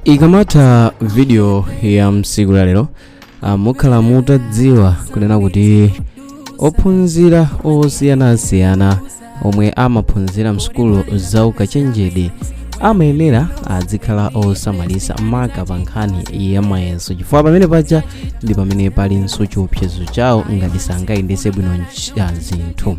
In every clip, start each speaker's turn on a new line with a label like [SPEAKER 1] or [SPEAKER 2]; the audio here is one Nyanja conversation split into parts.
[SPEAKER 1] ikamatha video ya msiku la lero ah, mukhala mutadziwa kunena kuti ophunzira osiyanasiyana omwe amaphunzira msukulu za ukachenjede amayenera adzikhala osamalisa maka pa nkhani ya mayeso chifukwa pamene paja ndi pamene palinso chiopsezo chawo ngati sangayendese bwino nch- ah, zinthu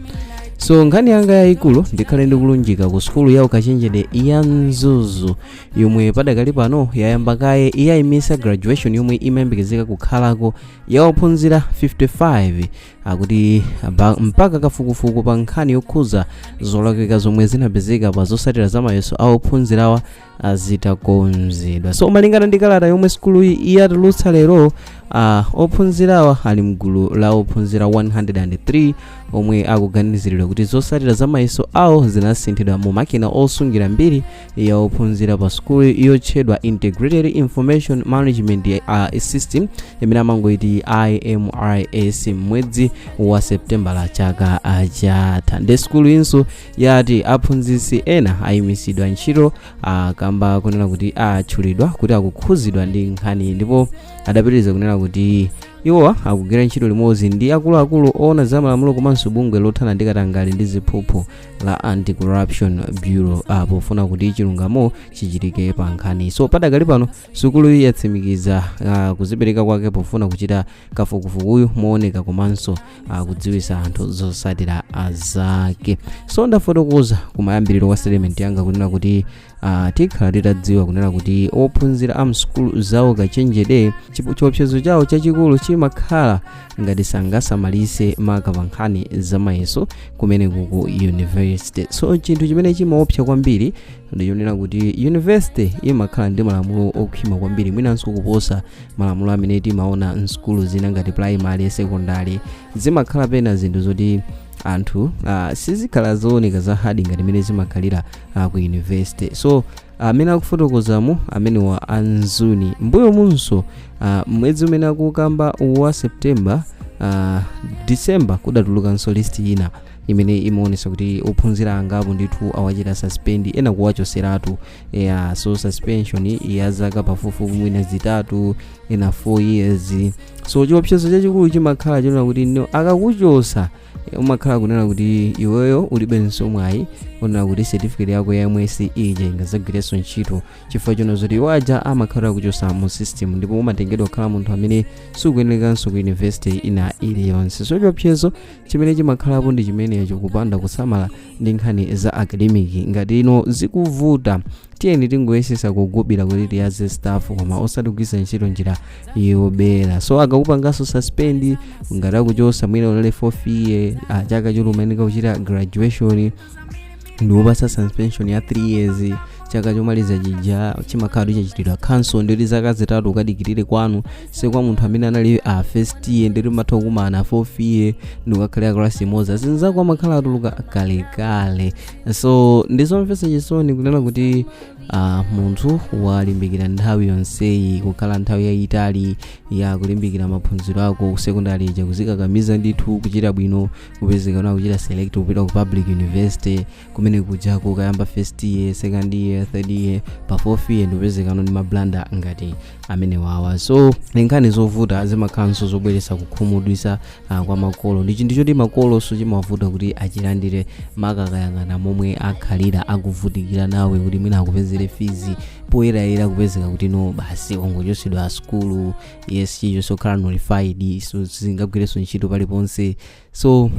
[SPEAKER 1] so nkhani yanga yayikulu ndikhale ndikulunjika ku sukulu ya ukachenjede ya mzuzu yomwe padakali pano yayamba kaye yayimisa graduation yomwe imayembekezeka kukhalako ya ophunzira 55 akuti aba- mpaka kafukufuku pa nkhani yokhuza zolakwika zomwe zinapezeka pa zosatira za mayeso a ophunzirawa ah, zitakonzedwa so malingana ndi kalata yomwe sukuluyi yatulutsa lero ah, ophunzirawa ali mgulu la ophunzira 103 omwe akuganiziridwa kuti zotsatira za mayeso awo zinasinthidwa mu makina osungira mbiri ya ophunzira pa sukulu yotchedwa integrated information management uh, system imene amangoiti imrs mwezi wa septembala chaka ah, chatha nde sukuluyinso yati aphunzitsi ena ayimitsidwa ntchito kamba konena kuti atchulidwa kuti akukhuzidwa ndi nkhani ndipo adapitiriza kunena kuti iwowa akugwira ntchito limodzi ndi akuluakulu oona za malamulo komanso bungwe lothana ndi katangale ndi ziphuphu la anti-corruption bureau ah, pofuna kuti chilungamo chichitike pa nkhaniyi so padakali pano sukuluyi yatsimikiza ah, kuzipereka kwake pofuna kuchita kafukufukuyu mooneka komanso kudziwisa anthu zosatira zake so ndafotokoza kumayambiriro kwa statement yanga kunena kuti uh, tikhala titadziwa kunena kuti ophunzira a msukulu za ukachenjede chipo- chiopsezo chawo chachikulu chimakhala ngati sangasamalise maka pa nkhani zamayeso kumene ku university so chinthu chimene chimaopsa kwambiri nchonena kuti yunivesite imakhala ndi malamulo okhwima kwambiri mwinanso kuposa malamulo amene timaona msukulu zina ngati primary secondary zimakhala pena zinthu zoti anthu uh, sizikhala zooneka za hadi ngati mene zimakhalira uh, ku yunivesite so amene uh, akufotokozamo amenewa a mzuni mbuyomunso uh, mwezi umene akukamba wa september uh, december kudatulukanso list ina imene imaonesa kuti ophunzira angapo ndithu awachita suspend ena kuwachoseratu yeah, so suspension ya zaka pafupifupi mwina zitatu ena 4 years so chiopsezo chachikulu chimakhala chonena kuti no akakuchosa eh, umakhala kunena kuti iweyo ulibenso mwayi onena kuti certificate yako ya msc ija ingazagwirenso ntchito chifukwa chonena zoti iwo aja amakhala akuchosa mu system ndipo umatengedwa kukhala munthu amene sukuyenekanso ku university ina iliyonse so chiopsezo chimene chimakhalapo ndi chimenecho kupanda kusamala ndi nkhani za academic ngati no zikuvuta tiyeni tingoyesesa kugubila kuti tiyaze stuff koma osati kugwisa ntchito njira yobera so akakupanganso suspend ngati akuchosa mwina unali fourth year chaka choti umayeneka kuchita graduation nkukupasa suspension ya 3 years chaka chomaliza chija chimakhala chachitidwa cancel ndi zaka zitatu ukadikirire kwanu so kwa munthu amene anali a first year nde mutha kukumana fourth year ndikukakhala class imodzi azinzako amakhala atuluka kalekale so ndizomvetsa chisoni kunena kuti uh, munthu walimbikira nthawi yonseyi kukhala nthawi yayitali ya kulimbikira maphunziro ako sekondari ija kuzikakamiza ndithu kuchita bwino kupezeka no akuchita select kupita ku public university kumene kujako kukayamba first year second year third year pa fourth year ndikupezeka no ndi mablanda ngati amenewawa so ndi nkhani zovuta zimakhalanso zobweretsa kukhumudwitsa uh, kwa makolo ndi chinthu choti makolonso chimawavuta kuti achilandire makaka akayang'ana momwe akhalira akuvutikira nawe kuti mwina akupezere fees poyerayera kupezeka kuti no basi wangochotsedwa sukulu years zijazo zokhala nullified sizi ngagwirenso ntchito paliponse so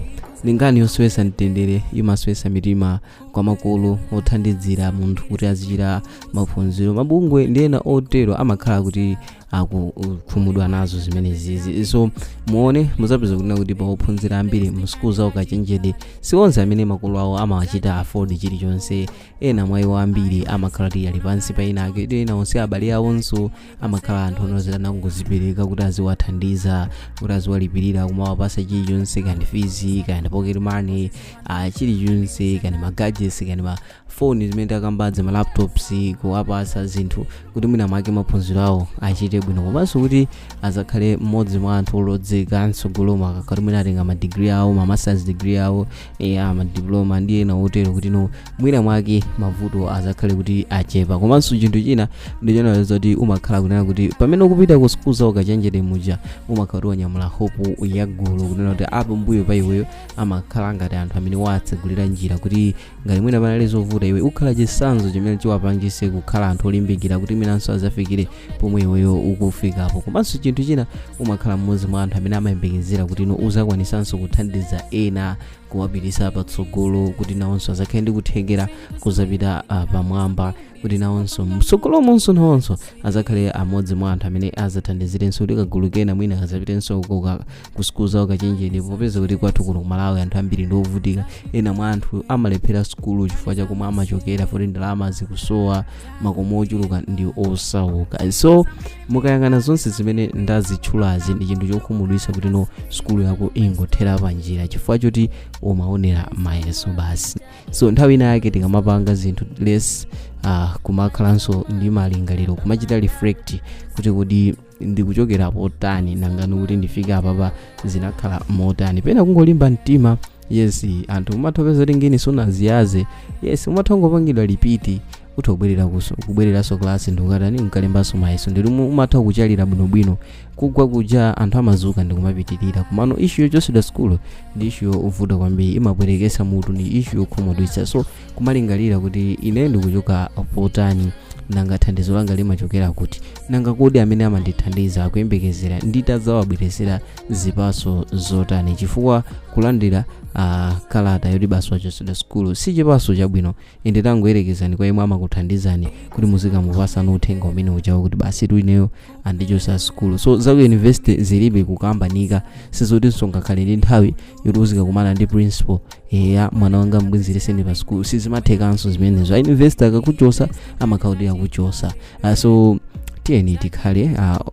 [SPEAKER 1] ndi nkhani yosowesa mtendere imaswesa mitima kwa makolo othandizira munthu kuti azichita maphunziro mabungwe ndi ena otero amakhala kuti akukhumudwa nazo zimenezizi so muone muzapeza kunena kuti pa ophunzira ambiri m'sukulu za ukachenjede si onse amene makolo awo amawachita afford chilichonse ena mwa iwo ambiri amakhala kuti ali pansi pa ena ake ena onse abale awonso amakhala anthu oti anangozipereka kuti aziwathandiza kuti aziwalipirira kumawapasa chilichonse kaya ndi fees kaya ndi pocket money uh, chilichonse kaya ndi magadgets kaya ndi mafoni zimene takambazo ma laptops kuwapasa zinthu kuti mwina mwake maphunziro awo achite bwino komanso kuti azakhale mmodzi mwa anthu olozeka mtsogolomo akakhala mwina atenga ma degree awo ma masters degree awo kaya madiploma ndi ena otero kuti no mwina mwake mavuto azakhale kuti achepa komanso chinthu china ndichonena zoti umakhala kunena kuti pamene ukupita ku sukulu za ukachenjede muja umakhala kuti wanyamula hope ya gulu kunena kuti apambuyo pa iweyo amakhala ngati anthu amene wawatsegulira njira kuti ngati mwina panali zovuta iwe ukhala chisanzo chimene chiwapangise kukhala anthu olimbikira kuti mwinanso azafikire pomwe iweyo ukufikapo komanso chinthu china umakhala mmodzi mwa anthu amene amayembekezera kuti no uzakwanisanso kuthandiza ena kuwapitisa patsogolo kuti nawonso azakhale ndi kuthekera kuzapita ah, pamwamba kuti nawonso mtsogolomonso nawonso azakhale amodzi mwa anthu amene azathandizirenso kuti kagulu kena mwina kazapitenso kuka ku school za ukachenjede popeza kuti kwathu kuno ku malawi anthu ambiri ndi ovutika ena mwa anthu amalephera sukulu chifukwa chakomwe amachokera foti ndalama zikusowa makomo ochuluka ndi osauka so mukayang'ana zonse zimene ndazitchulazi ndi chinthu chokhumudwitsa kuti sukulu yako ingothera panjira chifukwa choti umaonera mayeso basi so nthawi ina yake tikamapanga zinthu let's uh, kumakhalanso ndi malingaliro kumachita reflect kuti kodi ndikuchokera potani nanga kuti ndifike apapa zinakhala motani pena kungolimba mtima yes anthu umatha kupeza kuti ngini sunaziyaze yes umatha kungopangidwa lipiti utha kubwerera kuso kubwereranso klasi ndikukatani nkulembanso mayeso ndili umu- umatha kuchalira bwinobwino kugwa kuja anthu amazuka ndikumapitirira komano ishu yochosedwa sukulu ndi ishu yovuta kwambiri imapweteketsa mutu ndi ishu yokhumudwitsa so kumalingalira kuti ine ndikuchoka potani nanga thandizo langa limachokera kuti nanga kodi amene amandithandiza akuyembekezera nditazawabweresera zipaso zotani chifukwa kulandira uh, kalata yoti basi wachosedwa sukulu si chipaso chabwino ende tangoyerekezani kwa imwe amakuthandizani kuti muzikamupasano uthenga umene ujawo kuti basi tu ineyo andichosa sukulu so za ku university zilibe kukambanika sizotinso ngakhale ndi nthawi yoti uzikakumana ndi principal eya mwana wanga mbwezereseni pa sukulu sizimathekanso zimenezo a university akakuchosa amakhala kuti akuchosa uh, so tiyeni tikhale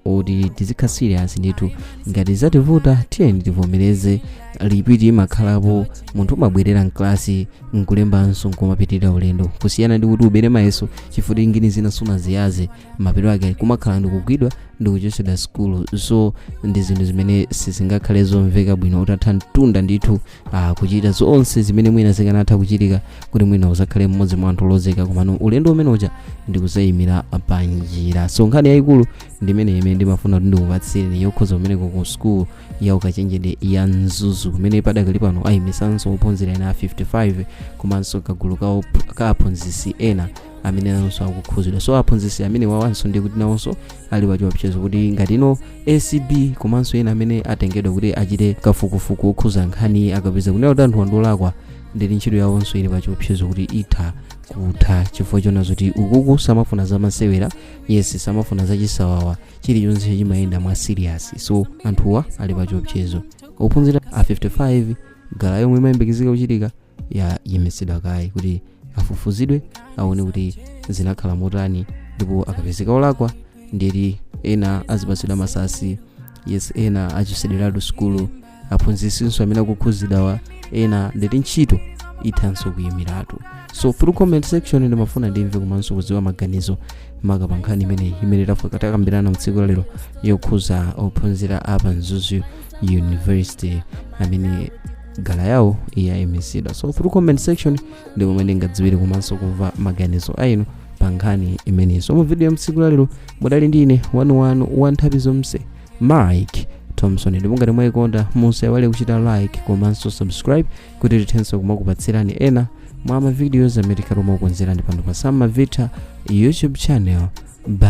[SPEAKER 1] uh, oti tizikhala serious ndithu ngati zativuta tiyeni tivomereze lipiti imakhalapo munthu umabwerera mklasi nkulembanso nkumapitirira ulendo kusiyana ndi kuti ubere mayeso chifukwa ngini zina sunaziyaze mapeto ake kumakhala ndikugwidwa ndikuchosedwa sukulu so ndi zinthu zimene sizingakhale zomveka bwino utatha mtunda ndithu ah, kuchita zonse zimene mwina zikanatha kuchitika kuti mwina uzakhale mmodzi mwa anthu olozeka komano ulendo umene uja ndikuzayimira pa njira so nkhani yayikulu ndi imene imene ndimafuna kuti ndikupatsireni yokhuza kumeneko ku sukulu ya ukachenjede ya mzuzu kumene padakali pano ayimisanso ophunzira ena 55 komanso kagulu ka op- ka aphunzitsi ena amene nawonso akukhuzidwa so aphunzitsi amene wawanso ndi kuti nawonso ali pachiopsezo kuti ngati ino acb komanso ena amene atengedwa kuti achite kafukufuku wokhuza nkhaniyi akapeza kunena kuti anthuwa ndi olakwa ndiye ntchito yawonso ili pachiopsezo kuti itha kutha chifukwa chona zoti ukuku samafuna zamasewera yes samafuna zachisawawa chilichonse chimayenda mwa serious so anthuwa ali pachiopsezo ophunzira a 55 graduation yomwe imayembekezeka kuchitika yayimitsidwa kaye kuti afufuzidwe aone kuti zinakhala motani ndipo akapezeka olakwa ndiyeti ena azipatsidwa masuspension ena achotsedweratu sukulu aphunzitsinso amene akukhudzidwawa ena ndiyeti ntchito ithanso kuyimiratu so through comment section ndimafuna ndimve komanso kudziwa maganizo maka pa nkhani imeneyi imene tatha kukambirana mtsiku lalero yokhudza ophunzira apa mzuzu university amene grad yawo yaimitsidwa so through comment section ndi pomwe ndingadziwire komanso kumva maganizo ainu pa nkhani imeneyi so mu video ya mtsiku lalero mudali ndi ine wanuwanu wa nthawi zonse mike thompson ndipo ngati mwayikonda musaiwale kuchita like komanso subscribe kuti tithenso kumakupatsirani ena mwa mavideos amene tikhale tikukonzerani pano pa samavita youtube channel bye